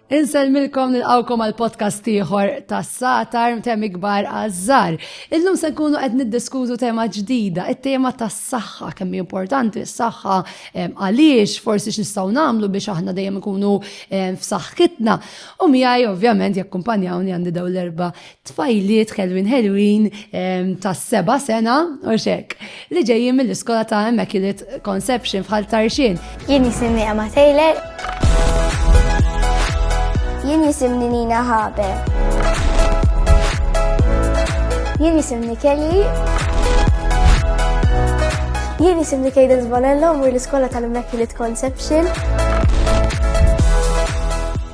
Insellmilkom nilqawkom għal podcast ieħor tas-satar mtemm ikbar għażżar. Illum se nkunu qed niddiskutu tema ġdida, it-tema tas-saħħa kemm importanti s-saħħa għaliex forsi x'nistgħu nagħmlu biex aħna dejjem ikunu f'saħħitna. U miegħi ovvjament jakkumpanjawni għandi dawn l-erba' tfajliet ħelwin ħelwin ta' seba sena u xek li ġejjin mill-iskola ta' Immaculate Conception fħal tarxin. Jien jisimni Emma Taylor. Jien jisimni Nina Habe. Jien jisimni Kelly. Jien jisimni Kejden Zvanello, mur l-iskola tal-Immaculate Conception.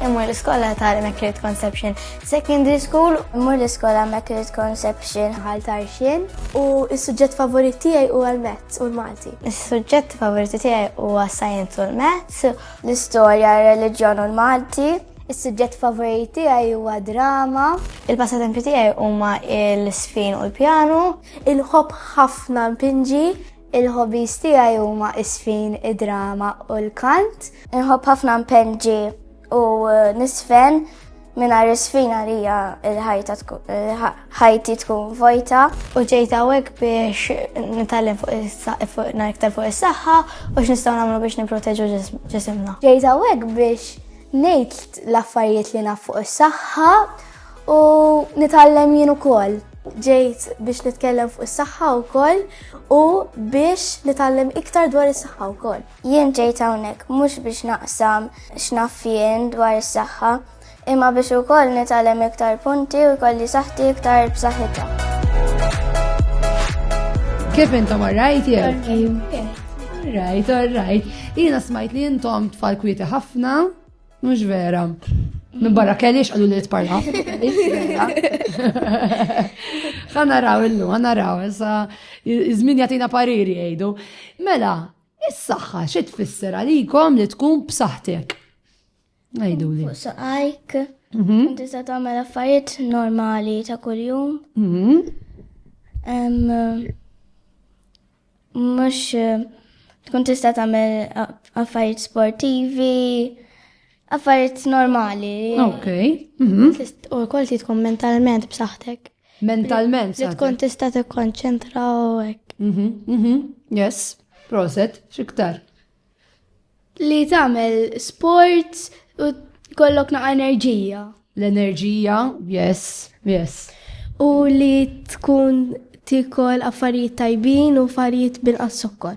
Imur l-iskola tal-Immaculate Conception Secondary school, mur l-iskola Immaculate Conception ħal tarxin u s-suġġett favorit tiegħi huwa l-Mezz u l-Malti. Is-suġġett favoriti tiegħi huwa Science u l-Mezz, l-istorja, r-reliġjon u l-Malti. Is-suġġett favoriti tiegħi huwa drama. Il-passatempi tiegħi huma l-sfin u l-pjanu. Il-ħobb ħafna mpinġi. Il-hobbies tiegħi huma isfin, id-drama u l-kant. Il-ħobb ħafna mpinġi. U nisfen minna risfina li hija l-ħajti tkun vojta. U ġejt hawnhekk biex nitgħallem fuq iktar fuq is-saħħa u x'nistgħu nagħmlu biex nipproteġu ġisimna. Ġejt hawnhekk biex ngħid l-affarijiet li naf fuq is-saħħa u nitgħallem jien ukoll. Ġejt biex nitkellem fuq is-saħħa wkoll u biex nitgħallem iktar dwar is-saħħa wkoll. Jien ġejt hawnhekk mhux biex naqsam x'naf jien dwar is-saħħa, imma biex ukoll nitgħallem iktar punti u jkolli saħħti iktar b'saħħitha. Kif intom orrajt jew? Orrajt, orrajt. Jiena smajt li intom tfal kwieti ħafna, mhux vera. Minn barra kellix għallu li tparla. Għana raw illu, għana raw, issa izmin jatina pariri jgħidu. Mela, Is-saħħa xi tfisser għalikom li tkun b'saħħtek? Ngħiduli. Fuq saqajk, mhm. inti se tagħmel affarijiet normali ta' kuljum. Mhm. Mhux eh, tkun tista' tagħmel affarijiet sportivi, affarijiet normali. Ok. Mhm. U wkoll titkom mentalment b'saħħtek. Mentalment. Li tkun tista' tikkonċentra u hekk. Mhm, mhm, yes, proset, xiktar. Li tagħmel sports u kollok naqa' enerġija. L-enerġija, yes, yes. U li tkun tikol affarijiet tajbin u affarijiet binqas sokkor.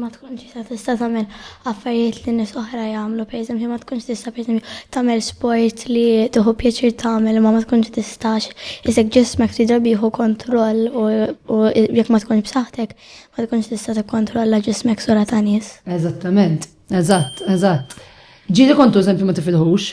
ma tkunx tista' tista' tagħmel affarijiet li nies oħra jagħmlu, pereżempju ma tkunx tista' pereżempju tagħmel sport li tieħu pjaċir tagħmel ma ma tkunx tistax isek ġismek ftit drabi jieħu kontroll u jekk ma tkunx b'saħħtek ma tkunx tista' tikkontrolla ġismek sura ta' nies. Eżattament, eżatt, eżatt. Ġieli kontu eżempju ma tifilħux,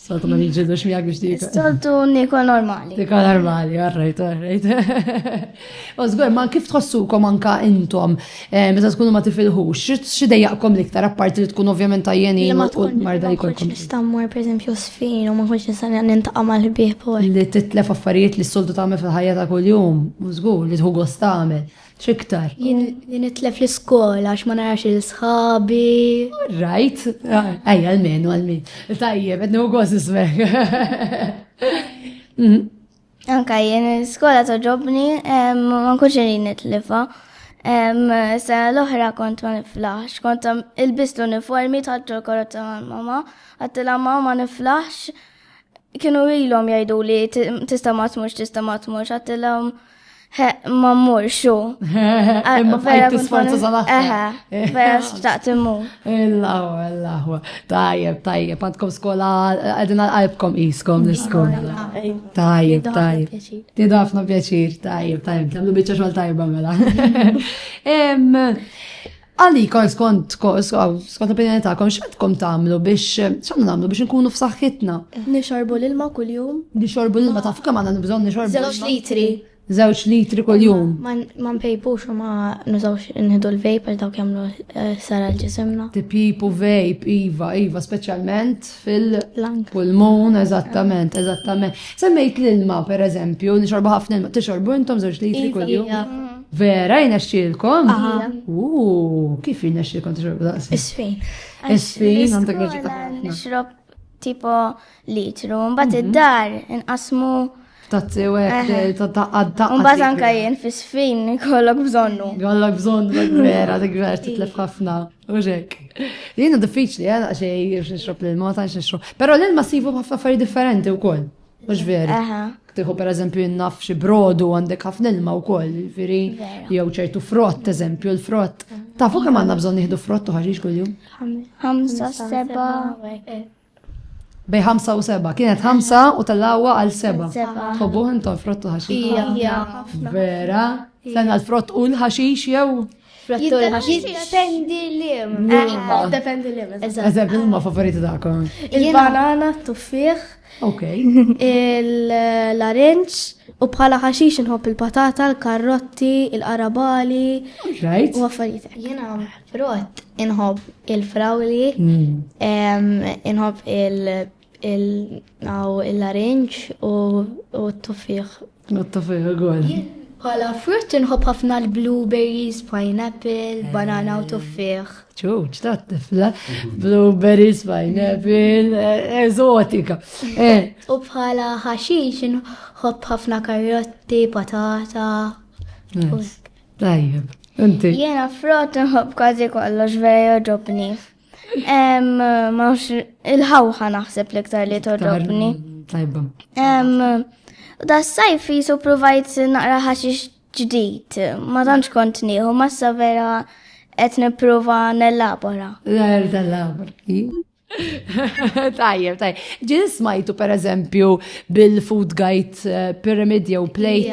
Soltu ma nġidux miegħek biex dik. Soltu niko normali. Niko normali, għarrejt, għarrejt. U żgur, ma kif tħossukom anka intom, eh, meta tkunu ma tifilħux, xi dejjaqkom l-iktar apparti li tkun ovvjament tajjeni u marda jkollkom. Nistammur pereżempju sfin u ma nkunx nista' nintaqa' mal-ħbieb u Li titlef affarijiet li s-soltu tagħmel fil-ħajja ta' kuljum, u żgur li tħu gost tagħmel. X'iktar? Jien li nitlef l-iskola għax ma narax il-sħabi. Right, ej għal-min, għal-min. Tajjeb, għednu għoz ismek. Mm. Anka jien l-iskola toġobni, ma nkunx li nitlifa. Sa l-oħra kont ma niflaħx, kont il-bist l-uniformi taħġu l-korot ta' mama, għattila mama niflaħx, Kienu ilhom jgħidu li tista' ma tmurx, tista' ma tmurx, għattilhom ma mmurx u. Imma bħajt tisforza sal-aħħar. Eh. Vera xtaqt immu. Illahu, illahu. Tajjeb, tajjeb, għandkom skola għadina għalbkom jiskom l-skola. Tajjeb, tajjeb. Tidu ħafna pjaċir, tajjeb, tajjeb. Għamlu bieċa xol tajba mela. Għalikom skont skont opinjoni tagħkom x'għandkom tagħmlu biex x'għandna nagħmlu biex nkunu f'saħħitna. Nixorbu l-ilma kuljum. Nixorbu l-ilma taf kemm għandna nibżgħu nixorbu. Żewġ litri. Żewġ litri kuljum. Ma npejpux u ma nużawx nħidu l-vejp għal dawk jagħmlu eh, sara l-ġisimna. Tipipu vejp, iva, iva, speċjalment fil-pulmun, eżattament, eżattament. Semmejt l-ilma, per eżempju, nixorbu ħafna ilma, tixorbu intom żewġ litri iva, kuljum. Iva. Vera jnexxilkom? Uuu, kif jnexxilkom tixrobu daqs? Isfin. Isfin, għandek raġun taħna. Nixrob tipo litru, mbagħad mhm. id-dar inqasmu Tazzi u għek, tazzi. Unbat anka jen fi sfin kollok bżonnu. Kollok bżonnu, vera, dik vera, titlef ħafna. Uġek. Jena diffiċli, għana xej, xnixrob l-ilma, ta' xnixrob. Pero l-ilma sifu ħafna affari differenti u koll. Mux veri. Tiħu per eżempju jinnaf xi brodu għandek ħafna ilma u koll, veri, jew ċertu frott, eżempju, l-frott. Tafu kemm għandna bżonn nieħdu frott u ħarġiġ kull-jum? Ħamsa seba. Bej ħamsa u seba. Kienet ħamsa u tal-lawa għal seba. Tħobbu intom frott u ħaxix? Vera? Sena l-frott u l-ħaxix jew? Frattur ħaxix. Jiddependi l-im. Jiddependi l-im. Eżab, huma favoriti tagħkom. Il-banana, t-tuffiħ. Ok. Il-larinċ u bħala ħaxix nħobb il-patata, l-karrotti, il-qarabali. Right. U affarijiet. Jena frott inħobb il-frawli, mm. inħobb il- il-naw il-larinġ u t-tuffiħ. U t-tuffiħ ukoll. Bħala frutt inħobb ħafna l-blueberries, pineapple, banana u tuffiħ. ċuċ, ta' tifla, blueberries, pineapple, eh, eżotika. Eh. U bħala ħaxix inħobb ħafna karotti, patata. Tajjeb. Inti. Jena frott nħob kważi kollox vera joġobni. Il-ħawħa naħseb l-iktar li torrobni. Tajba. Da s-sajf jisu provajt naqra ħaxix ġdijt. Ma tantx kont nieħu, ma s vera qed nipprova nellabora. Għar tal-labor. Tajjeb, tajjeb. Ġin smajtu per eżempju bil-food guide eh, pyramid jew plate.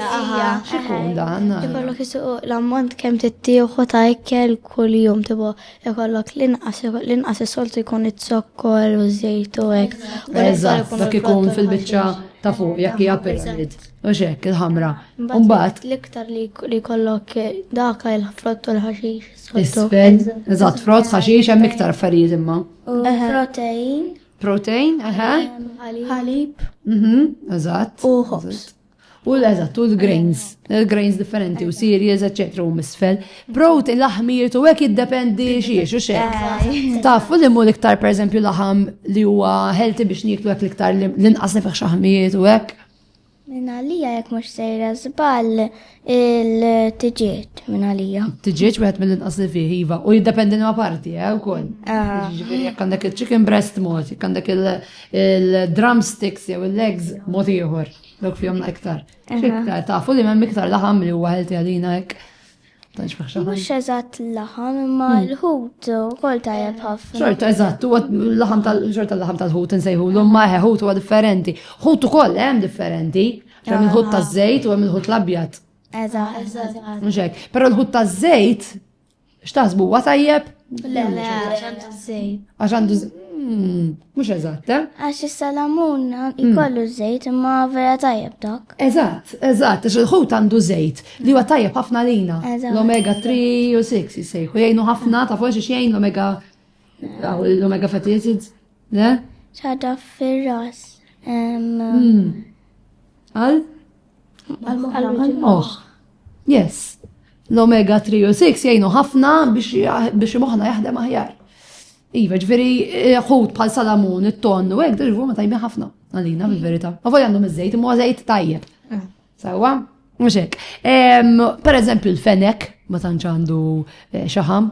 Xikun dan? Ikollok jisuq l-ammont kem tittieħu ta' ikkel kull jum tibu Ikollok l-inqas, l-inqas is-soltu jkun it-zokkor u żejt u hekk. Eżatt, dak ikun fil-biċċa ta' fuq jekk hija pyramid. U xek il-ħamra. Mbagħad l-iktar li jkollok dak il-frott u l-ħaxix. Isfel, eżatt, frott, ħaxix hemm iktar affarijiet imma. Protein. Protein, eħe. Ħalib. Mhm, eżatt. U ħobż. U l-eżatt, u l-grains, l-grains differenti, u cereals, etc. u misfel. Brot il-laħmijiet u għek jiddependi xiex u xek. Taf, u l-immu l-iktar, per eżempju, laħam li huwa healthy biex niklu għek l-iktar l-inqas nifex xaħmijiet u għek. Minna lija jek mux sejra zbal il-tġieċ minna lija. Tġieċ wieħed mill-inqas li fih iva u jiddependi ma parti, eh, u koll. Ah. Jek għandek il-chicken breast mod, jek għandek il-drumsticks jew il-legs mod ieħor. Dawk fihom iktar. Iktar tafu li m'hemm iktar laħam li huwa ħelti għalina hekk. Tanx maħxaħam. Mhux eżatt laħam imma hmm. l-ħut ukoll tajjeb ħafna. Xorta eżatt, huwa laħam tal xorta laħam tal-ħut insejħu l ma ħut huwa differenti. Ħut ukoll hemm differenti. Hemm il-ħut ah. taż-żejt u hemm il-ħut l-abjad. Eżatt. Mhux hekk. Però l-ħut taż-żejt X'taħsbu huwa tajjeb? Le, le, għax għandu żejt. Għax għandu hmm, Mhux eżatt, eh? Għax is-salamun hmm. ikollu żejt imma vera tajjeb dak. Eżatt, eżatt, għax il-ħut għandu żejt li huwa tajjeb ħafna lina. L-omega 3 u 6 jisejħu jgħinu ħafna ta' forsi xejn l-omega l-omega fatty acids, le? ċaġa fir-ras. Hmm. Għal? Għal-moħ. Yes. L-omega 3 u 6 jgħinu ħafna biex moħna jaħdem aħjar. Iva, ġveri, eh, ħut pal salamun, it-ton, u għek, ġveri, ma tajmi ħafna, għalina, bil-verita. Ma voj għandhom iż-żejt, imma żejt tajjeb. Eh. Sawa? Mxek. Per eżempju, l-fenek, ma tanċandu eh, xaħam,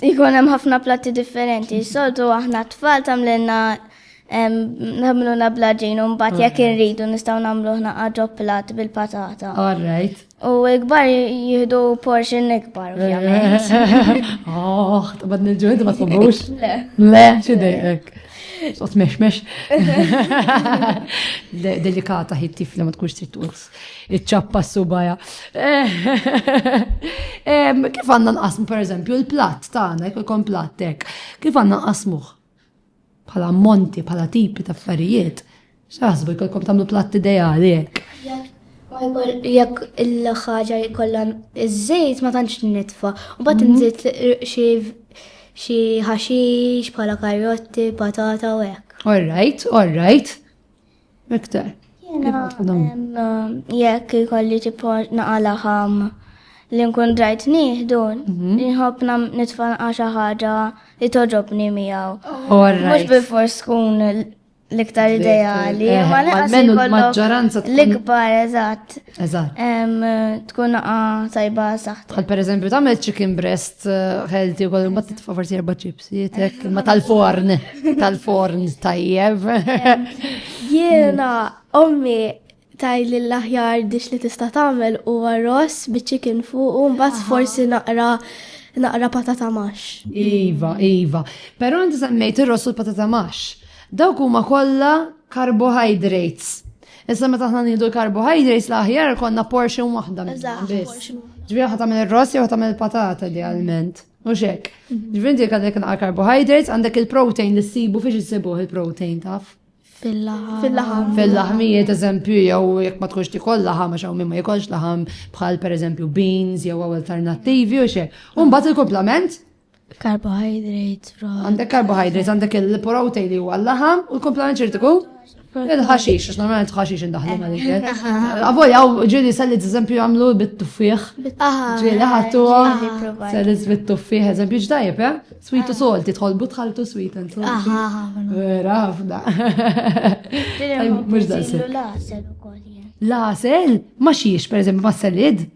Ikun hemm ħafna platti differenti. Soltu aħna tfal tagħmlilna nagħmlu nabla ġin u mbagħad jekk irridu nistgħu nagħmlu ħna qaġob plat bil-patata. All right. U ikbar jihdu portion ikbar, ovvjament. Oh, tabad nil-ġu, inti ma tħobbux? Le. Le, xidejk. Sot mex mex. Delikata ħit tifla ma tkunx trid tuqs. Iċċappa s-subajja. Kif għanna nqasmu, per eżempju, il-platt tagħna, jekk ikun plattek, kif għanna nqasmuh? Bħala monti, bħala tipi ta' affarijiet. X'aħsbu jekk ikom tagħmlu platt ideali hekk. Jekk il-ħaġa jkollha iż-żejt ma tantx nitfa, u bad mhm. nżid xi ħaxix bħala karotti, patata u hekk. All right, all right. Iktar. Jekk ikolli tipo naqala ħam li nkun drajt nieħdu, mhm. nħobna nitfa' xi ħaġa li toġobni miegħu. Mhux bi fors tkun l-iktar ideali, eh, ma l-maġġoranza l-ikbar eżatt. Eżatt. Tkun naqa tajba saħt. Għal per eżempju, tamel chicken breast eh, healthy u kollu, ma titfa forsi erba ċips, jietek, ma tal-forn, tal-forn tajjeb. Jena, ommi, taj li l-aħjar dix li tista tamel u għarros bi chicken fuq u mbagħad forsi naqra naqra patata max. Iva, iva. Pero inti semmejt ir-ross u l-patata max. Dawk huma kollha carbohydrates Issa meta aħna nieħdu l-carbohydrates l-aħjar konna portion waħda minnhom biss. Ġifieri ħa tagħmel ir-ross jew tagħmel il-patata idealment. U xek. Mhm. Ġifieri dik għandek naqra carbohydrates, għandek il-protein li ssibu fiex issibuh il-protein taf. Fil-laħam. Fil-laħmijiet, eżempju, jew jekk ma tkunx tikol laħam, għax hawn ma jikolx laħam bħal pereżempju beans jew alternattivi u xek. U mbagħad il-komplement Carbohydrates from. Għandek carbohydrates, għandek il-protein li huwa l-laħam u l-komplement ċertiku? Il-ħaxix, għax normalment ħaxix indaħlu ma dik. Għavoj, għaw ġili selli t-eżempju għamlu bit-tuffiħ. Ġili ħattu selli bit-tuffiħ, eżempju ġdajib, eh? Sweet u salt, tħol butħaltu sweet and salt. Vera, ħafna. Mux da' Lasel, ma xiex, per eżempju, ma' selid.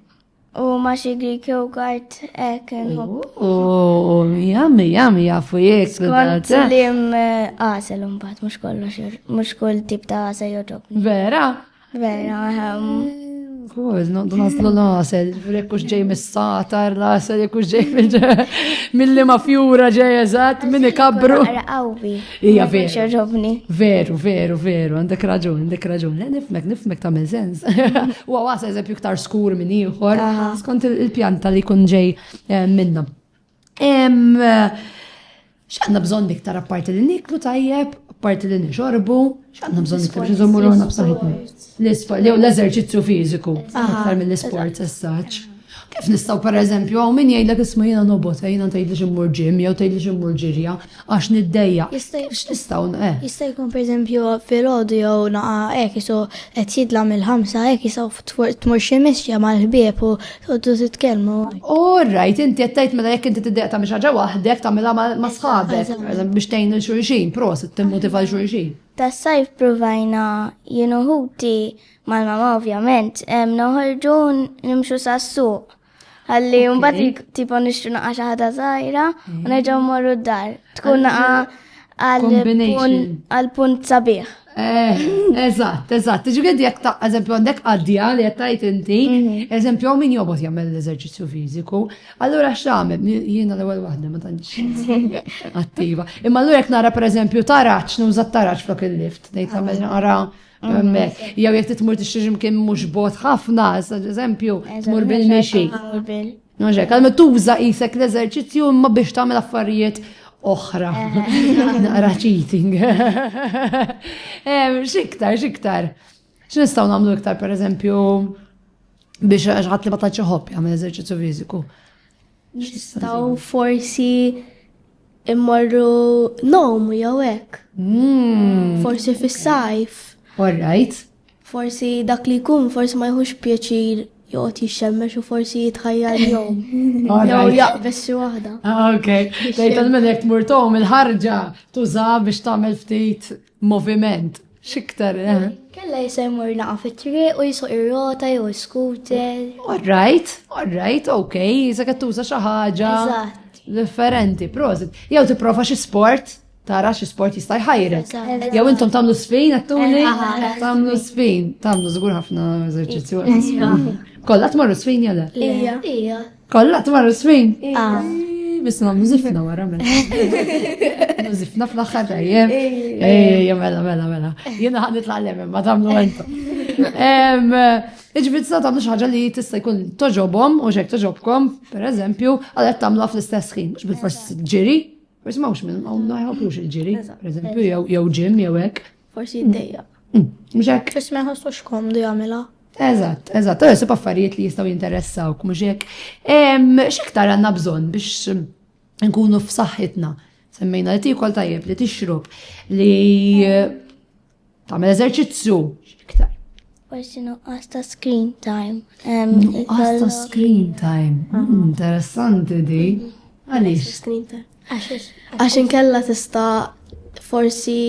U ma xi Greek yogurt ek nħobb. U jammi, jammi, jafu jek. Skont li għasel un bat, mux kollox, mux koll tip ta' għasel joġob. Vera? Vera, għam. Kuz, noddu naslu l-għasel, rekkux ġej mis-satar, l-għasel rekkux ġej mill-li ma fjura ġej eżat, minni kabru. Għawbi. Ija veru. Veru, veru, veru, għandek raġun, għandek raġun. Le, nifmek, nifmek ta' sens. U għas eżempju ktar skur minn ieħor, skont il-pjanta li kun ġej eh, minna. X'għandna bżonn iktar apparti li niklu tajjeb, apparti li nixorbu, X'għandna bżonn iktar biex iżommu ruħna b'saħħitna? L-isport, jew l-eżerċizzju fiżiku, aktar mill-isport essaċ. Kif nistgħu pereżempju hawn min jgħidlek isma' jiena nobot, eh, jiena tgħidli ximmur ġim jew tgħidli ximmur ġirja għax niddejja. X'nistgħu eh? Jista' jkun pereżempju filgħodu jew naqa' hekk isu qed jidla mill-ħamsa hekk jistgħu tmur xi mixja mal-ħbieb u Għoddu titkellmu. All right, inti qed tgħid mela jekk inti tiddeq ta' ħaġa waħdek tagħmilha ma' sħabek biex tgħin il xulxin, prosit timmotiva l xulxin. Tas-sajf provajna jienu ħuti mal-mama ovvjament, noħorġu nimxu sas-suq. Għalli mbagħad tipo nixtru naqa' xi ħaġa żgħira u mm. nerġgħu mmorru d-dar. Tkun naqa' għal punt sabiħ. Eh, eżatt, eżatt. Ġifieri jekk ta' eżempju għandek għaddija li qed tgħid inti, mhm. eżempju min jobot jagħmel l-eżerċizzju fiżiku, allura x'għamel jiena l-ewwel waħda ma tantx attiva. Imma allura jekk nara pereżempju taraġġ nuża taraġġ flok il-lift, ngħid tagħmel nara hemmhekk. Mhm. Jew jekk titmur tixtri mkien mhux bot ħafna, eżempju, tmur bil-mixi. Mhux hekk, għalma tuża qisek l-eżerċizzju imma biex tagħmel affarijiet oħra. Naqra cheating. Xiktar, xiktar. X'nistgħu nagħmlu iktar pereżempju biex ħadd li ma tantx iħobb jagħmel eżerċizzju fiżiku. Nistgħu forsi immorru nom jew hekk. Hmm. Forsi fis-sajf. All right. Forsi dak li jkun forsi ma jħux pjaċir joqgħod jixxemmex u forsi jitħajjar jom. Jew jaqbeż xi waħda. Ah, ok, tgħid minn hekk tmur tom il-ħarġa tuża biex tagħmel ftit moviment. Xiktar, eh? Kella jisemur naqa fit-triq u jisuq ir-rota jew scooter. All right, all right, ok, jisa tuża xi ħaġa. Differenti, prosit. Jew tipprova xi sport tara xi sport jista' jħajrek. Jew intom tagħmlu spin għattuni, tagħmlu spin, tagħmlu żgur ħafna eżerċizzju. Kollha tmorru spin jew le? Ija. Kollha tmorru spin? Ah. Biss nagħmlu żifna wara mela. Żifna fl-aħħar tajjeb. Ejja mela mela mela. Jiena ħad nitla' l ma tagħmlu għentu. Iġbid sa tagħmlu xi ħaġa li tista' jkun toġobhom u xek toġobkom, pereżempju, għalhekk tagħmluha fl-istess ħin, mhux bil-forsi ġiri, Ma jismawx minn, ma mm. jħobbux il-ġiri, per eżempju, jew ġim, jew hekk. Forsi jiddejja. Mm. Mm. Mhux hekk. Forsi ma jħossux komdu jagħmilha. Eżatt, eżatt, u jisib affarijiet li jistgħu jinteressawk, mhux hekk. X'iktar għandna bżonn biex nkunu f'saħħitna. Semmejna li tikol tajjeb, li tixrob, li Tagħmel eżerċizzju iktar. Forsi nuqqas ta' screen time. Nuqqas ta' screen time. Mm, interessanti di. Għaliex? Screen time. Għax inkella tista' forsi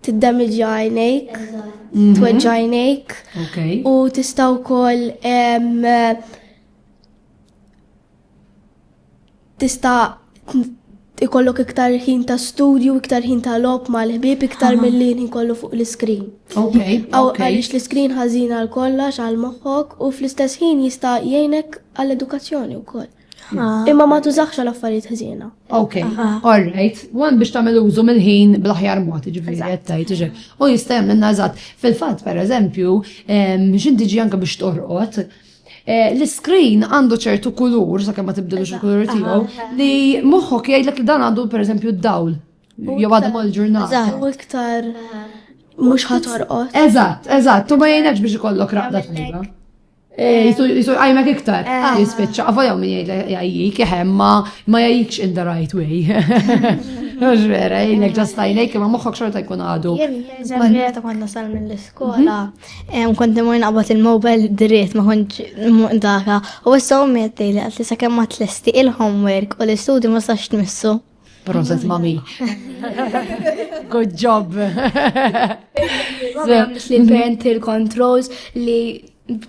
tiddamġja għajnejk, mhm. tweġġa għajnejk. U tista' wkoll Tista' ikollok iktar ħin ta' studju, iktar ħin ta' lob ma' l-ħbib, iktar mill-li ħin kollu fuq l-iskrin. Ok. Għalix l-iskrin ħazina għal kollox għal moħħok u fl-istess ħin jista' jgħinek għall-edukazzjoni u koll. Ah. Imma ma tużax għal affarijiet ħażina. Ok, all right. Wan biex tagħmel użu mill-ħin bl-aħjar mod, ġifieri qed tgħid iġi. U jista' jagħmel nażat. Fil-fatt, pereżempju, x'inti ġi anke biex torqod, Eh, l-screen għandu ċertu kulur, sa' ma tibdilux il-kulur tiegħu, li moħħok jgħidlek li dan għandu pereżempju d-dawl. Jew għadu mal ġurnal Eżatt, u iktar mhux ħatorqod. Eżatt, eżatt, u ma jgħinekx biex ikollok raqda tliba. Eh, jisu għajmek iktar, eh. jispiċċa, għafa jaw minn jgħajjik, jħem ma jgħajjikx in the right way. Mux vera, jgħajnek ġastajnek, ma moħħok xorta jkun għadu. Jgħajnek, ta' konna sal minn l-skola, mhm. Kont imur naqbad il-mobile dritt ma kontx daka u issa u metti li għalti sa kemm ma tlesti il-homework u l-istudju ma sax tmissu. Proset mami. Good job. Li parent il-controls li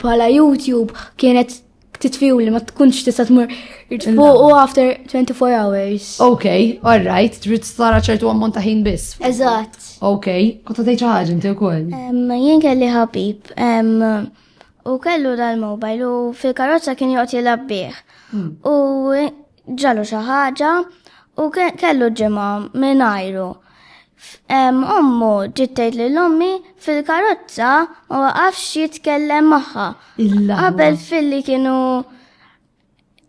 pala YouTube kienet titfiju li ma tkunx tista' tmur fuq u after 24 hours. Ok, all right, trid tara ċertu ammont ta' ħin biss. Eżatt. Ok, kont tgħid xi ħaġa inti wkoll. Jien kelli ħabib u kellu dal-mobile u fil-karozza kien joqgħod jilgħab bih. Hmm. U Ġralu xi ħaġa u kellu ġimgħa mingħajru. Ommu ġiet tgħid lil ommi fil-karozza ma waqafx jitkellem magħha. Qabel filli kienu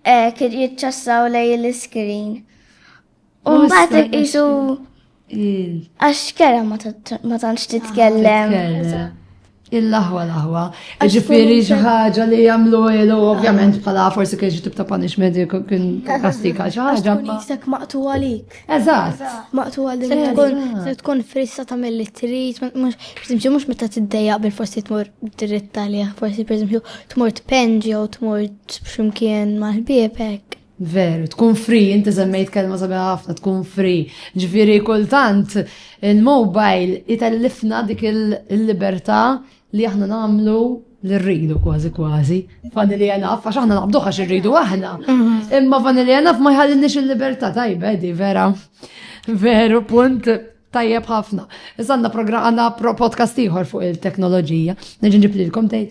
eh, jiċċassaw lej l-iskrin. U mbagħad iqisu Għax kera ma tantx titkellem. Il-laħwa laħwa. Ġifiri ħaġa li jamlu ilu, ovvjament, bħala forsi kien xi tibta punishment kien kastika xi ħaġa. Jisek maqtu għalik. Eżatt. Maqtu għalik. Se tkun frissa ta' mill trid, pereżempju mhux meta tiddejjaq bil forsi tmur dritta li forsi pereżempju tmur tpenġi jew tmur x'imkien mal-ħbiebek. Veru, tkun free, inti semmejt kelma sabiħa ħafna, tkun free. Ġviri kultant il-mobile itellifna dik il-libertà li aħna namlu li rridu kważi kważi. Fanni li jenaf, għax aħna naqbdu għax rridu aħna. Mhm. Imma fanni li jenaf ma jħallinix il-libertà tajba, di vera. Veru, punt. Tajjeb ħafna. Iżda għandna programm għandna podcast ieħor fuq il-teknoloġija. Neġi nġib lilkom tgħid.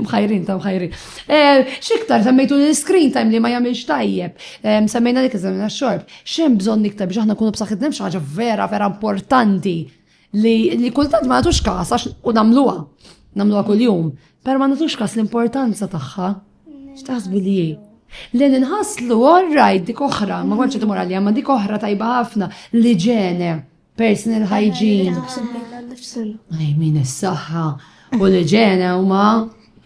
Mħajrin ta' mħajrin. Eh, xiktar semmejtu l-screen time li ma jagħmilx tajjeb. Eh, semmejna dik iżemmejna x-xorb. X'hemm bżonn iktar biex aħna kunu b'saħħitna xi ħaġa vera vera importanti Li, li kultant ma nagħtux kas għax u nagħmluha, nagħmluha kuljum, però ma nagħtux kas l-importanza tagħha. X'taħsbu li Li nħaslu orraj dik oħra, ma konċa timur għalija, ma dik oħra tajba ħafna li ġene, personal hygiene. Għaj, min s-saħħa u li ġene u ma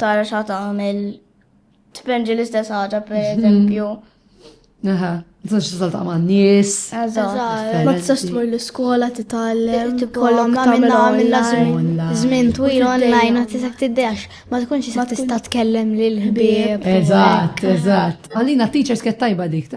tara xa tagħmel tpenġi l-istess ħaġa per mhm. eżempju. Aha, tistax tisal ta' man nies. Ma tistax tmur l-iskola titgħallem, kollok tagħmilha online. Żmien twil online ma tistax tiddex, ma tkunx tista' tista' tkellem lil ħbieb. Eżatt, eżatt. Għalina teachers kett tajba dik.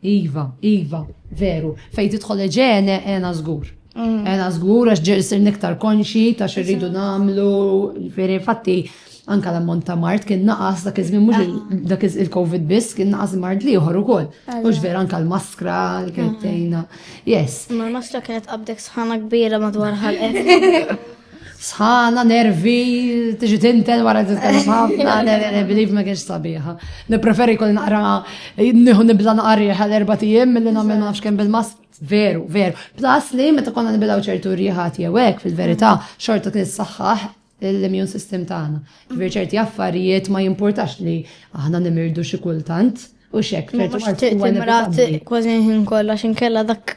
Iva, iva, veru. Fejn tidħol eġene, għena żgur. Għena żgur għax ġer isir niktar konxi ta' xirridu nagħmlu, jiġifieri fatti anka l-ammont ta' mart kien naqas dak iż-żmien mhux ah. dak il-COVID biss kien naqas mart li ieħor ukoll. Mhux vera anka l-maskra li kienet mm. tgħinna. Yes. Ma l-maskra kienet qabdek sħana kbira madwar ħalqek. Sħana, nervi, tiġi tinten wara titkellem ħafna, believe ma kienx sabiħa. Nipreferi kol naqra, nieħu nibla naqri għal erba' tiem milli nagħmel nafx kemm bil-mas veru, veru. Plus li meta konna nibilaw ċertu riħat jew hekk fil-verità, xorta kien saħħaħ l-immune system tagħna. Ġifier ċerti affarijiet ma jimpurtax li aħna nimirdu xi kultant u xek. Mux timrat kważi ħin kollha x'inkella dak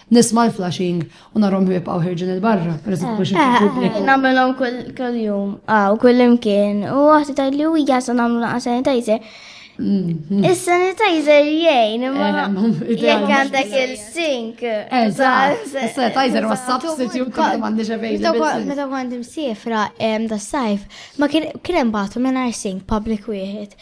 Nisma' l-flashing u narhom jibqgħu ħirġin il-barra, pereżempju biex ikun pubbliku. Nagħmilhom kull-jum, aw kull imkien, u waħda tgħidli u hija sa nagħmlu naqa' sanitizer. Mm. Is-sanitizer jgħin, imma eh, jekk għandek il-sink. Eżatt, is-sanitizer ma substitute kont m'għandix availability. Meta kont imsiefra da sajf, ma kien hemm bagħtu mingħajr sink public wieħed.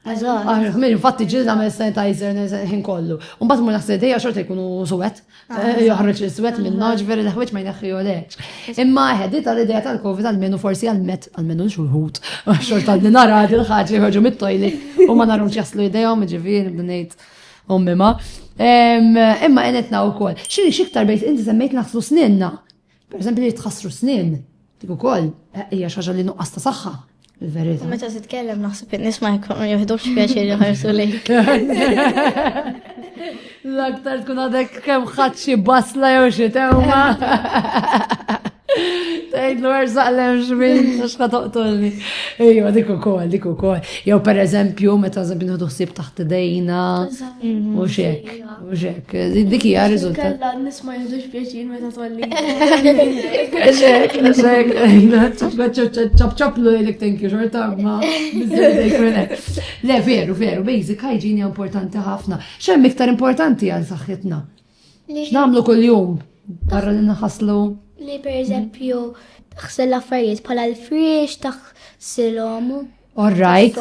Eżatt. Min infatti ġil nagħmel sanitizer ħin kollu. U mbagħad mur naħseb dejja xorta jkunu suwet. Ah. Eh, joħroġ l-suwet minn naġver il-ħwieġ ma jneħħiju lex. Imma ħeddi tal-idea tal-Covid għal-menu forsi għal-met għal-menu l-xulħut. Xorta li nara il ħaġa jħorġu mit-tojli u ma narhomx jaslu idejhom ġifieri bdnejt ummima. Imma għenetna u kol. Xini xiktar bejt inti semmejt naħslu snenna. Pereżempju li tħassru snien, dik ukoll hija xi ħaġa li nuqqas ta' saħħa. Il-verità. Meta titkellem naħseb in-nies ma jkunu jiħdux pjaċir jħarsu lejk. L-aktar tkun għadek kemm ħadd xi basla jew xi tewma. Tgħidlu ersaq lem xmin, xka toqtolni. Ejwa, dik ukoll, dik ukoll. Jew pereżempju meta żabinu ħsieb taħt idejna u xek. Uġek, dik hija riżultat. Kalla nisma' jidux pjaċir meta tolli. Eżek, eżek, ċapċaplu jilek thank you xorta ma. Le, veru, veru, basic hygiene importanti ħafna. Xem iktar importanti għal saħħitna. Namlu kull-jum, barra li naħaslu. Li per eżempju, taħsel affarijiet bħala l-friex, taħsilhom Orrajt,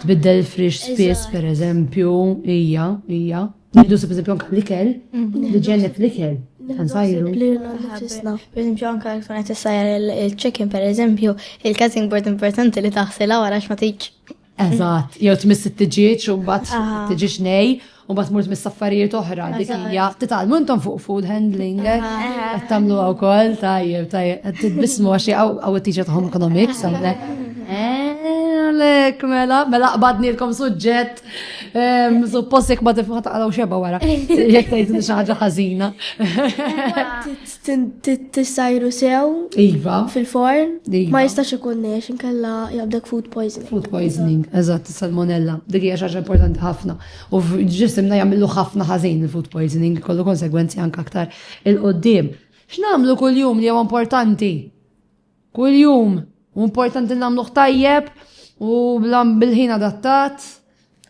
tbiddel il-frix spiss, per eżempju, ija, ija. Niddu se eżempju anka l-ikel, mhm. li ġennet l-ikel. Għanżajru. Per eżempju, anka għakun għet s-sajr il-chicken, per eżempju, il-cutting board importanti li taħsela għara ma tiġ. Eżat, jew tmiss t-tġieċ u bat t-tġieċ nej, U bat murt mis saffarijiet oħra, dik hija titgħalmu intom fuq food handling, eh? qed tagħmluha wkoll tajjeb, tajjeb, qed titbismu għax għaw it-tiġa ta' home economics għandek. Għalek, mela, mela qbadnilkom suġġett, ehm, suppost jek ma tifħat għalaw xeba wara, jek tajt xaħġa ħazina. Tissajru sew. Iva. Fil-forn. Iva. Ma jistax ikun nex, inkella jabdek food poisoning. Food poisoning, eżatt, salmonella. Dik hija xaġa importanti ħafna. U ġisimna jagħmlu ħafna ħażin il-food poisoning, kollu konsegwenzi anke aktar il-qoddim. X'namlu kull-jum li huwa importanti? Kuljum, u importanti nagħmluh tajjeb u bil-ħin adattat,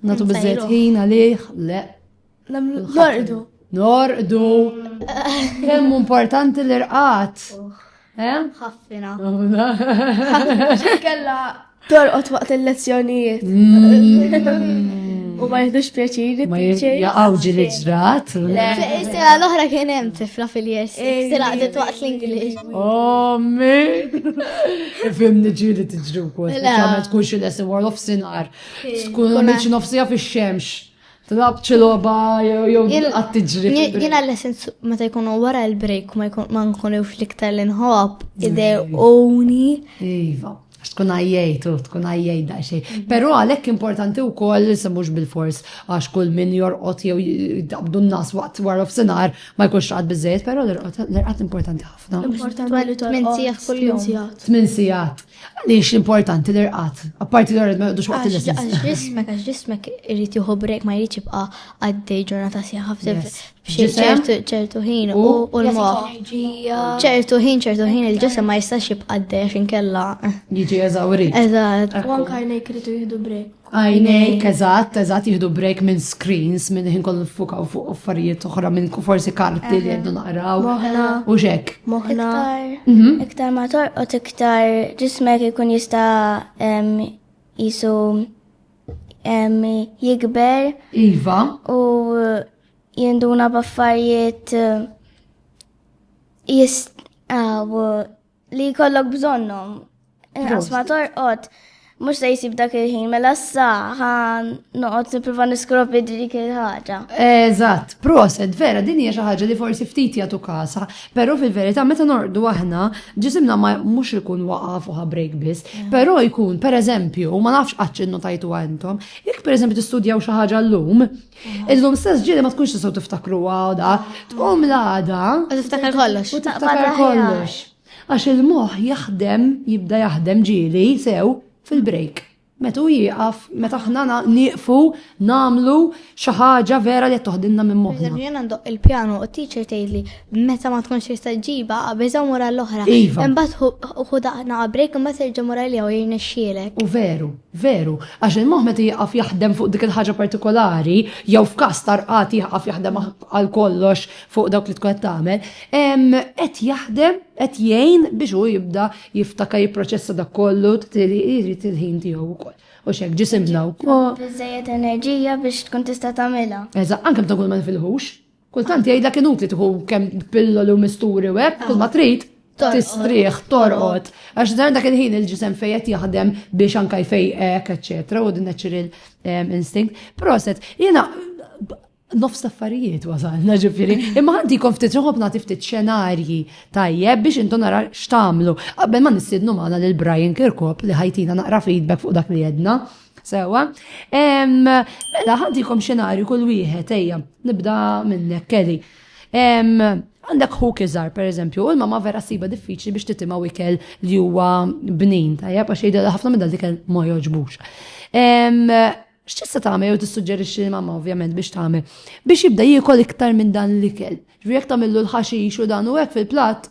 nagħtu biżejjed ħin għalih, le. Norqdu. Norqdu. Kemm importanti l-irqat. Ħaffina. Ħaffina. Kella Torqod waqt il-lezzjonijiet. Mm. U ma jihdux pjaċiri. Ma jaqaw ġil ġrat. Sira l-oħra kien hemm tifla fil-jess. Sira għadet waqt l-Ingliż. Ommi! Fimni ġili tiġri wkoll. Għamel tkun xi lesson war of sinar. Tkun għamilx nofsija fix-xemx. Tlab ċiloba jew jilqat tiġri. Jina l-essens meta jkunu wara l-break ma nkunu fl-iktar l-inħob uni. Iva, għax tkun għajjajt u tkun għajjajt da xej. Mhm. Pero għalek importanti u koll se mux bil-fors għax kull min jorqot jew dabdu n-nas waqt wara f-sinar ma jkunx għad bizzejt, pero l-irqat importanti ħafna. Importanti li t-min sijat kull-jum. T-min sijat. Għaliex importanti l-irqad, apparti l-irqad ma jgħodux waqt il-lessons. Għax ġismek, għax ġismek irrit juhu brek ma jridx jibqa' għaddej ġurnata sieħa ċertu ħin u l-moħ. ċertu ħin, ċertu ħin il-ġisem ma jistax jibqa' għaddej għax inkella. Jiġi eżawri. Eżatt. U anka jnejk irritu jihdu brek. Għajnejk, eżatt, eżatt jihdu break minn screens, minn ħin kollu fukaw fuq affarijiet oħra minn forsi karti li għeddu naqraw. Moħna. U xek. Moħna. Mhm. Iktar ma torqot iktar ġismek ikun jista jisu jikber. Iva. U jinduna baffarijiet jist Li jkollok bżonnhom. Inqas ma torqod mhux se jsib dak il-ħin mela issa ħan noqgħod nipprova niskropi dik il-ħaġa. Eżatt, proset, vera din hija xi ħaġa li forsi ftit jagħtu kasa, però fil-verità meta norqdu aħna ġisimna ma mhux ikun waqaf u break biss, mm. però jkun pereżempju, ma nafx qatt innotajtu għandhom, jekk pereżempju tistudjaw xi ħaġa llum, Illum stess ġiri ma tkunx tisaw tiftakru għada, tqum l-għada. U tiftakar kollox. U tiftakar kollox. Għax il-moħ jaħdem, jibda jaħdem ġiri, sew, fil-break. Metu jieqaf, meta ħna nieqfu, namlu xaħġa vera li toħdinna minn moħna. Jena ndoq il-pjano u t-teacher tgħidli Meta ma tkunx tista' ġiba, qabeża mura l-oħra. Iva. Imbagħad hu daqna qabrek imbagħad terġa' mura li hawn jirnexxielek. U veru, veru, għax il-moħħ meta jieqaf jaħdem fuq dik il-ħaġa partikolari, jew f'każ tarqat jieqaf jaħdem għal kollox fuq dawk li tkun qed tagħmel, qed jaħdem qed jgħin biex hu jibda jiftaka jipproċessa dak kollu jrid il-ħin tiegħu wkoll. U xek ġisimna wkoll. Biżejjed enerġija biex tkun tista' tagħmilha. Eżatt, anke meta kull ma nifilħux. Kultant jgħidlek inutli tħu kemm pillolu misturi u hekk, kull ma trid tistrieħ, torqod. Għax dan dak il-ħin il-ġisem fejet jaħdem biex anka jfejqek, eċetera, u din natural ehm, instinct. Proset, jiena nofs affarijiet wasalna ġifiri. Imma għandi kon ftit ġoħob nagħti ftit xenarji tajjeb biex intu nara x'tamlu. Qabel ma nissidnu magħna lil Brian Kirkop li ħajtina naqra feedback fuq dak li jedna. Sewa, mela ħantikom xenarju kull wieħed ejja, nibda minnek Kelly. Għandek hu kizar, per eżempju, u l-mama vera siba diffiċli biex titima wikel li huwa bnin, tajja, għax jgħidu ħafna minn dal-dikel ma joġbux. X'tista' tagħmel jew tissuġġerixxi li mamma ovvjament biex tagħmel biex jibda jiekol iktar minn dan l-ikel. Jekk tagħmillu l-ħaxix u dan u hekk fil-platt,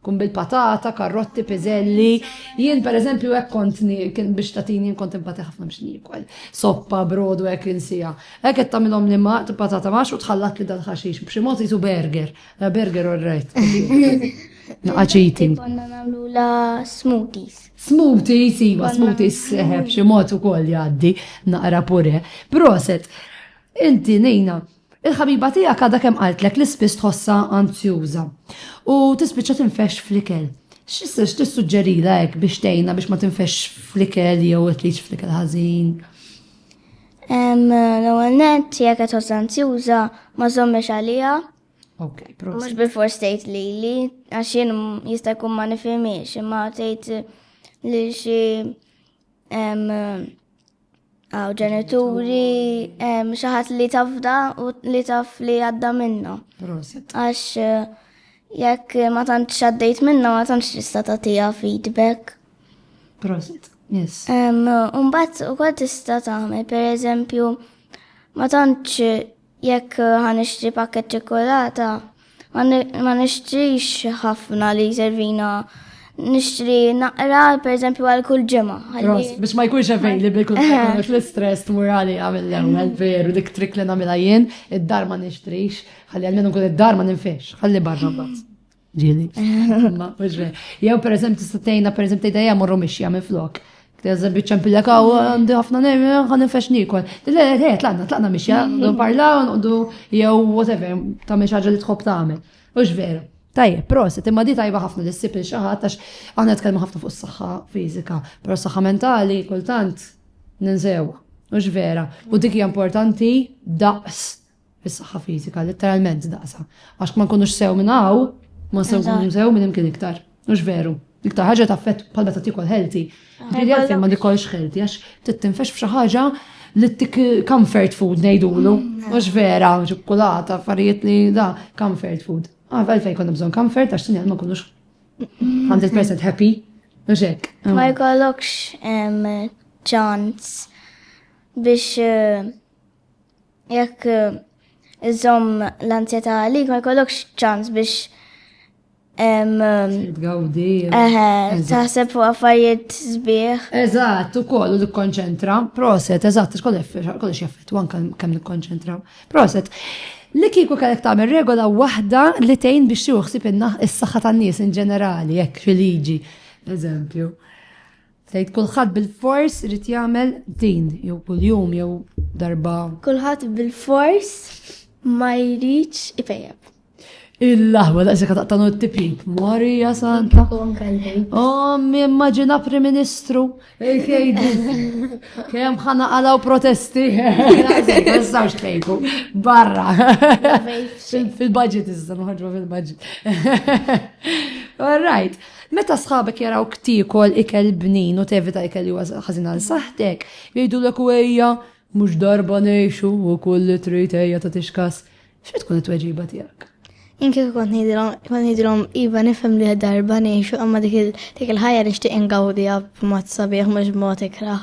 Kun bil-patata, karrotti, piżelli. Jien per eżempju hekk kont kien biex tatini kont impati ħafna biex niekwel. Soppa, brodu hekk insija. Hekk qed tagħmilhom li ma patata max u tħallat li dal-ħaxix b'xi mod jisu burger. La burger or right. Naqaċiti. Konna nagħmlu la smoothies. Smoothies, iva, smoothies seħeb eh, xi mod ukoll jgħaddi naqra pure. Proset, inti nejna Il-ħabiba tiegħek għadha kemm qaltlek li spiss tħossha anzjuża u tispiċċa tinfexx fl-ikel. X'issa x'tissuġġerilha hekk biex tgħinha biex ma tinfexx fl-ikel jew qed tgħix fl-ikel ħażin? L-ewwel nett jekk qed tħossha anzjuża ma żommiex għaliha. Ok, proset. Mhux bil-fors tgħid lili għax jien jista' jkun ma nifhimiex imma tgħid li xi Għaw ġenituri, xaħat li tafda u li taf li għadda minna. Għax eh, jekk ma tantx għaddejt minna ma tantx tista' tagħtiha feedback. Prosit, yes. Umbat u kol tista' tagħmel, per eżempju, ma tantx Jekk ħa nixtri pakket ċikkulata, ma nixtrix ħafna li jservina nixtri naqra, per eżempju, għal kull ġemma. Biex ma jkunx għavej li bikun għax l-stress tmur għali għamil l-ewel, veru, dik trik li namila jien, id-dar ma nixtrix, għalli għalmenu kun id-dar ma ninfiex, għalli barra bat. Ġili. Jew per eżempju tista' tgħinna per eżempju tgħidha hija morru mixja minn flok. Teżem biċċa mpillek hawn għandi ħafna nejmi ħan infex nikol. Le, le, tlaqna, tlaqna mixja, ndu parlaw, ndu jew whatever, ta' minn ħaġa li tħobb tagħmel. Ux veru. Tajjeb, proset, imma di tajba ħafna li ssib il-xaħat għax għandna tkellmu ħafna fuq is-saħħa fiżika, però s-saħħa mentali kultant ninsew. Ux vera. U dik hija importanti daqs fis-saħħa fiżika, litteralment daqsa. Għax ma nkunux sew minn hawn, ma sew nkunu sew minn imkien iktar. Mhux veru. Iktar ħaġa ta' fett bħal meta tikol healthy. Ġieli għalfejn ma nikolx healthy għax tittinfex f'xi ħaġa li tik comfort food ngħidulu. Mm. Mhux vera, ċokkolata, affarijiet li da comfort food. Ah, għalfejn konna bżonn comfort għax sinjal ma nkunux 100% happy. Mhux hekk. Ah. Ma jkollokx ċans biex eh, Jekk eh, iżomm l-anzjetà għalik ma jkollokx ċans biex Gawdi. Taħseb fuq affarijiet sbieħ. Eżatt, u kollu nikkonċentra. Proset, eżatt, kollu xeffet, wan kemm nikkonċentra. Proset. Li kiku kellek tagħmel regola waħda li tgħin biex juħsib is-saħħa tan-nies in ġenerali, jekk fil-liġi, eżempju. Tgħid kulħadd bil-fors irid jagħmel din jew kuljum jew darba. Kulħadd bil-fors ma jridx ifejjeb. Il-laħwa da' sekka taqtanu t-tipjib, Marija Santa. Oh, mi immagina Prim Ministru, il-kejdu. Kem ħana għalaw protesti. Għazzawx kejdu, barra. Fil-budget iżda, maħġba fil-budget. All right. Meta sħabek jarawk tiekol ikel bnin u tevita ikel li huwa ħażin għal saħħtek, jgħidulek u ejja, mhux darba ngħixu u kull li trid ejja tagħtix kas, x'qed tkun it-tweġiba tiegħek? Jien kieku kont ngħidilhom, kont ngħidilhom iva nifhem li darba ngħixu imma dik il-ħajja nixtieq ingawdiha b'mod sabiħ mhux b'mod ikrah.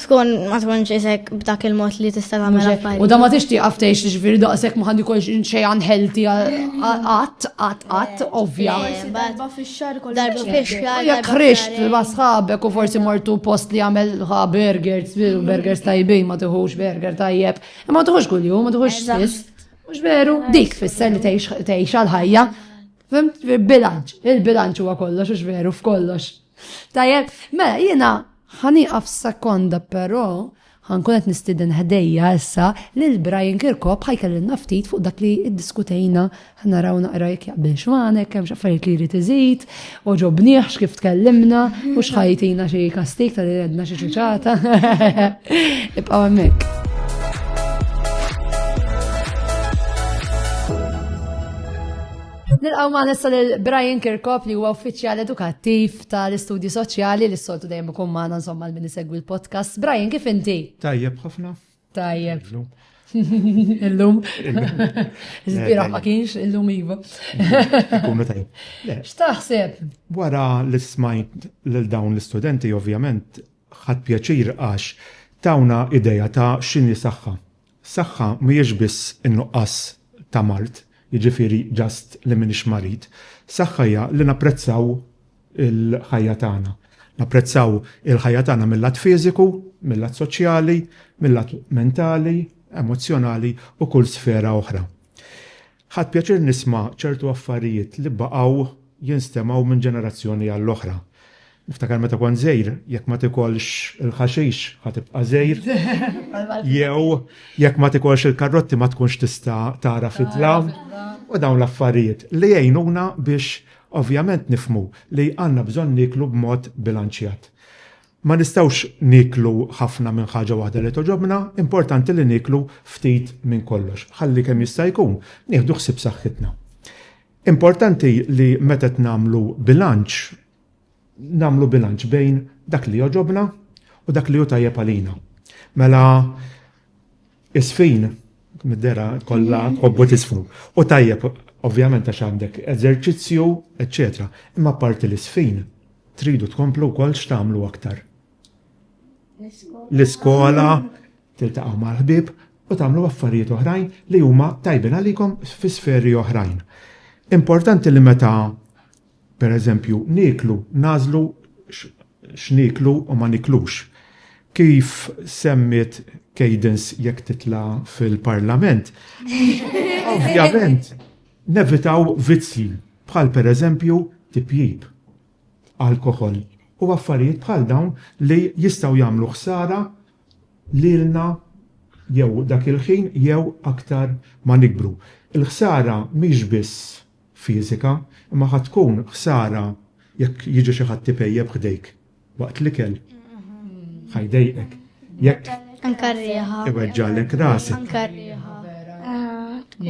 Tkun ma tkunx isek b'dak il-mod li tista' tagħmel affarijiet. U da ma tixti għaftejx li ġifieri daqshekk ma ħandi kolx xejn unhealthy qatt qatt qatt ovvja. Eh, darba fix-xahar kollu. Darba fix-xahar. Jekk ħrixt ma' sħabek u forsi mortu post li għamel ħa burgers, mm. burgers tajbin ma tiħux burger tajjeb. Ma tiħux kuljum, ma tiħux spiss. Mhux veru, dik fisser li tgħix għal-ħajja. Fimt, bilanċ, il-bilanċ huwa kollox, ux veru, f'kollox. Tajjeb, mela jiena ħaniqaf sekonda però ħankun qed nistiden ħdejja issa lil Brian Kirkop ħajkellilna ftit fuq dak li ddiskutejna ħnaraw naqra jekk jaqbilx magħnek hemm x'affarijiet li jrid iżid, oġobnieh x'kif tkellimna u x'ħajtina xi kastik tal għedna xi ċuċata. Ibqgħu hemmhekk. Nilqaw ma' nessa lil Brian Kirkop li huwa uffiċjal edukattiv tal-istudju soċjali li s-soltu dejjem ikun magħna insomma l-min isegwi l-podcast. Brian, kif inti? Tajjeb ħafna. Tajjeb. Illum. Zbira ma kienx illum iva. X'taħseb? Wara li smajt lil dawn l-istudenti ovvjament ħadd pjaċir għax tawna ideja ta' x'inhi saħħa Saħħa mhijiex biss in-nuqqas ta' mard, jiġifieri just li m'iniex marid. Saħħa hija li napprezzaw il-ħajja tagħna. Napprezzaw il-ħajja tagħna mil-lat fiżiku, mil-lat soċjali, mil-lat mentali, emozzjonali u kull sfera oħra. Ħadt pjaċir nisma' ċertu affarijiet li baqgħu jinstemgħu minn ġenerazzjoni għall-oħra. Niftakar meta kont żgħir, jekk ma tikolx il-ħaxix ħa tibqa' żgħir, jew jekk ma tikolx il-karrotti ma tkunx tista' tara fid-dlam, u dawn l-affarijiet li jgħinuna biex ovvjament nifhmu li għandna bżonn nieklu b'mod bilanċjat. Ma nistgħux nieklu ħafna minn ħaġa waħda li togħġobna, importanti li nieklu ftit minn kollox, ħalli kemm jista' jkun nieħdu ħsieb saħħitna. Importanti li meta qed nagħmlu bilanċ, nagħmlu bilanċ bejn dak li jogħġobna u dak li hu tajjeb għalina. Mela, Isfin, mid-dera kollha hobbu tisfnu. U tajjeb, ovvjament għax għandek eżerċizzju, eċċetera. Imma apparti l-isfin, tridu tkomplu wkoll x'tagħmlu aktar? L-iskola, tiltaqgħu mal-ħbieb u tagħmlu affarijiet oħrajn li huma tajbin għalikom fi sferi oħrajn. Importanti li meta Pereżempju, nieklu, nagħżlu x'nieklu u ma niklux. Kif semmiet Cadence jekk titla' fil-Parlament, ovvjament nevitaw vizzji bħal pereżempju tipjip, alkoħol u affarijiet bħal dawn li jistgħu jagħmlu ħsara lilna jew dak il-ħin jew aktar ma nikbru. Il-ħsara mhix biss. fiżika, imma ħa tkun ħsara jekk jiġi xi ħadd ipejjep ħdejk waqt l-ikel. Ħa jdejqek. Jekk Anka r-riħa. iweġġalek rasek. Anka r-riħa.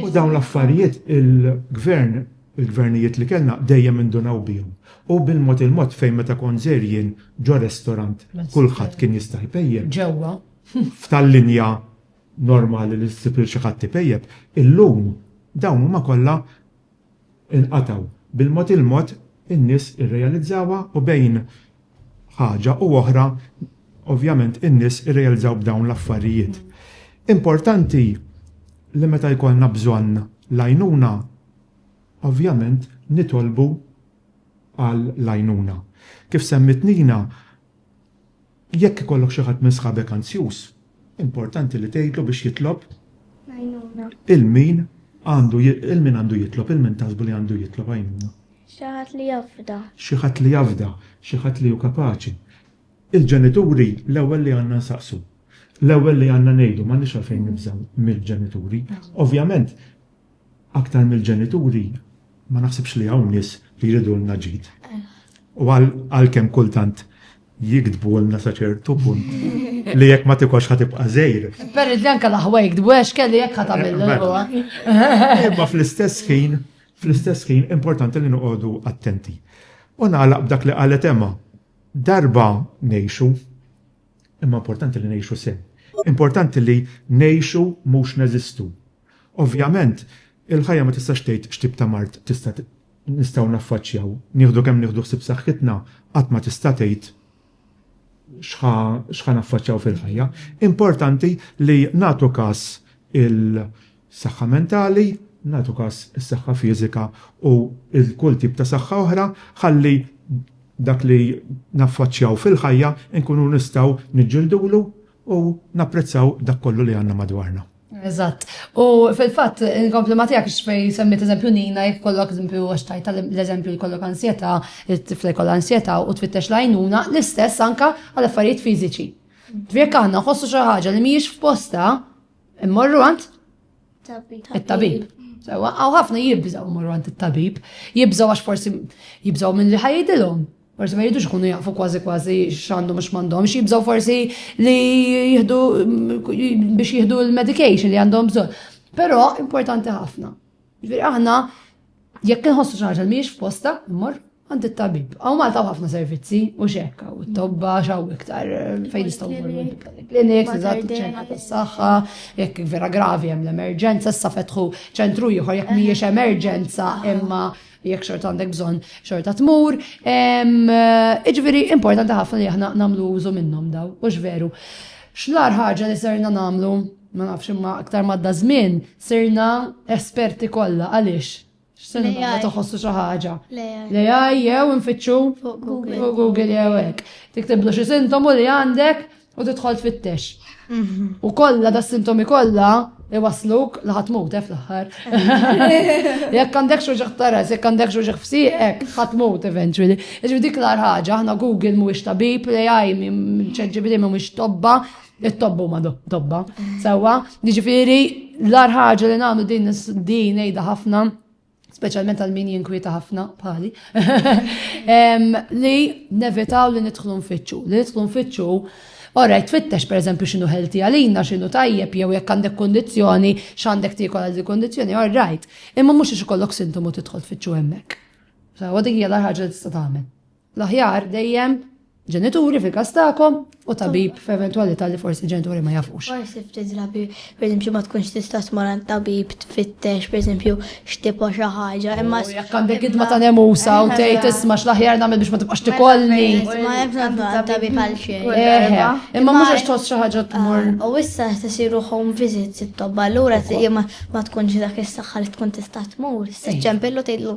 U dawn l-affarijiet il-gvern, il-gvernijiet li kellna dejjem indunaw bihom. U bil-mod il-mod fejn meta kont żejr jien ġo restorant kulħadd kien jista' jpejjep. Ġewwa. F'tal-linja normali li ssib lil xi ħadd ipejjep, illum dawn huma kollha nqatgħu. Bil-mod il-mod in-nies irrealizzawha u bejn ħaġa u oħra ovvjament in-nies irrealizzaw b'dawn l-affarijiet. Importanti li meta jkollna bżonn l-għajnuna ovvjament nitolbu għal l-għajnuna. Kif semmiet Nina, Jekk ikollok xi ħadd minn sħabek anzjuż, importanti li tgħidlu biex jitlob l-għajnuna. Il min għandu il min għandu jitlob, il min taħsbu li għandu jitlob għajnuna? Xi ħadd li jafda. Xi ħadd li jafda, xi ħadd li hu kapaċi. Il-ġenituri l-ewwel li għandna nsaqsu. L-ewwel li għandna ngħidu, m'għandniex għalfejn nibżgħu mill-ġenituri. Ovvjament, Aktar mill-ġenituri, ma naħsibx li hawn nies li jridulna ġid. U għalkemm kultant jigdbulna sa ċertu punt li jekk ma tikolx ħa tibqa' żgħir. Per anke l-aħwa jigdbu għax kelli jekk ħa tagħmel. Mela. Imma fl-istess ħin, fl-istess ħin importanti li noqogħdu attenti. U nagħlaq b'dak li qalet Emma, darba ngħixu, imma importanti li ngħixu sew. Importanti li ngħixu mhux neżistu. Ovvjament, il-ħajja ma tistax tgħid x'tip ta' mard tista' nistgħu naffaċċjaw. Nieħdu kemm nieħdu ħsieb saħħitna, qatt ma tista' tgħid x'ħa x'ħa naffaċċjaw fil-ħajja. Importanti li nagħtu każ il-saħħa mentali, nagħtu każ is-saħħa fiżika u l-kull tip ta' saħħa oħra ħalli dak li naffaċċjaw fil-ħajja nkunu nistgħu niġġildulu u napprezzaw dak kollu li għandna madwarna. Eżatt. U fil-fatt, inkompli ma tiegħek x'fej semmiet eżempju Nina jekk kollok eżempju għax tajta l-eżempju li kollok ansjetà, it-tifla jkollha ansjetà u twittex l-għajnuna l-istess anka għal affarijiet fiżiċi. Jekk aħna nħossu xi ħaġa li mhijiex f'posta, immorru għand it-tabib. Għaw ħafna jibżaw morru għand it-tabib, jibżaw għax forsi jibżaw minn li ħajdilhom, Forsi ma jridux ikunu jafu kważi kważi x'għandhom u x'm'għandhomx, jibżgħu forsi li jieħdu biex jieħdu l-medication li għandhom bżonn. Però importanti ħafna. Ġifieri aħna jekk inħossu xi ħaġa li mhijiex f'posta, mmor għand it-tabib. Aw Malta ħafna servizzi u xekka, u t-tobba xaw iktar eh, fejn nistgħu klinik, eżatt ċentra tas-saħħa, jekk vera gravi hemm l-emerġenza, issa fetħu ċentru ieħor jekk mhijiex emerġenza imma jekk xorta għandek bżonn xorta tmur. Iġviri, importanti ħafna li aħna namlu użu minnhom daw, u veru. Xlar ħaġa li serna namlu, ma nafx imma aktar madda żmien, serna esperti kollha għaliex. X'serna ma toħossu xi ħaġa. Li jew infittxu Google jew hekk. Tiktiblu xi sintomu li għandek U tidħol tfittex. Mhm. U kollha da sintomi kollha iwasluk li ħadd mut eh, fl-aħħar. Jekk għandek xoġaħ taras, jekk għandek xoġaħ fsiqek, ħadd mut eventually. Iġbi dik l ħaġa, aħna Google mhuwiex tabib, l-AI minn ċeġġibri mhuwiex tobba, it-tobbu ma tobba. Sewwa, jiġifieri l-ar ħaġa li nagħmlu din din ngħidha ħafna speċjalment għal min jinkwieta ħafna bħali, li nevitaw li nidħlu nfittxu. Li nidħlu nfittxu Ora, tfittex per eżempju xinu ħelti għalina, xinu tajjeb, jew jekk għandek kondizjoni, x'għandek tikol għal kondizjoni, all right. Imma mhux ix ikollok sintomu tidħol tfittxu hemmhekk. Sa għadik hija l-ħaġa li tista' tagħmel. L-aħjar dejjem ġenituri fil-każ tagħkom u tabib f'eventwalità li forsi ġenituri ma jafux. Forsi ftit drabi, pereżempju ma tkunx tista' tmur għand tabib tfittex pereżempju x'tipa xi ħaġa, imma jekk għandek idma ta' nemusa u tgħid isma' x'l-aħjar nagħmel biex ma tibqax tikolni. Ma hemm nagħmlu għand tabib għal xejn. Eħe, imma mhux għax tħoss xi ħaġa tmur. U issa qed isiru home visits it-tobba, allura ma tkunx dak is-saħħa li tkun tista' tmur, se ċempillu tgħidlu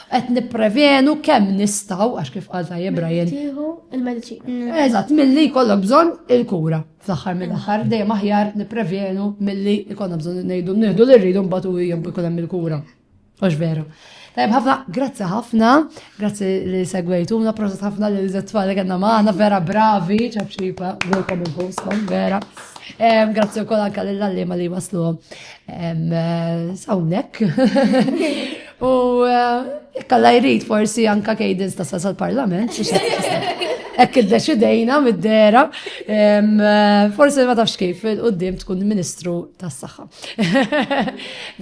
qed nipprevenu kemm nistgħu għax kif qal tajjeb Brian. Tieħu il-mediċina. Eżatt, milli jkollok bżonn il-kura. Fl-aħħar mill-aħħar dejjem aħjar nipprevenu milli jkollna bżonn ngħidu nieħdu li rridu mbagħad u jkun hemm il-kura. Għax veru. Tajb ħafna, grazzi ħafna, grazzi li segwejtuna, proset ħafna li l-zetfall li għanna maħna, vera bravi, ċabċipa, għulkom il-boskom, vera. Grazzi u kol anka l-għallima li waslu. Eh, sawnek. U eh, kalla jrid forsi anka kejdins ta' sasal parlament Ekk id-deċidejna mid-dera, eh, forsi ma tafx kif il-qoddim tkun ministru tas saħħa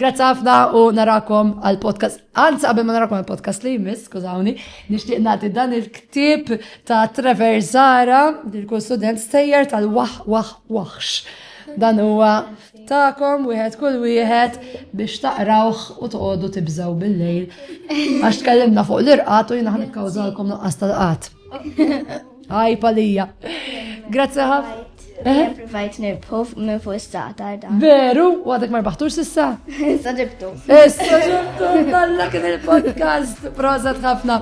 Grazzi ħafna u narakom għal-podcast. Anzi, qabel ma narakom għal-podcast li jmiss, skużawni, nixtieq nagħti dan il-ktib ta' Trevor Zara, il-kull student stejjer tal-wah wah wahx. Dan huwa tagħkom wieħed kull wieħed biex taqrawh u toqgħodu tibżgħu bil-lejl għax tkellimna fuq l-irqat u jiena ħan ikkawżalkom nuqqas tal-qat. Għaj palija. Grazzi ħaf. Provajt nirbħu minn fuq is-sata dan. Veru, u għadek ma rbaħtux sissa? Issa ġibtu. Issa ġibtu, dalla kien il-podcast. Proza tħafna.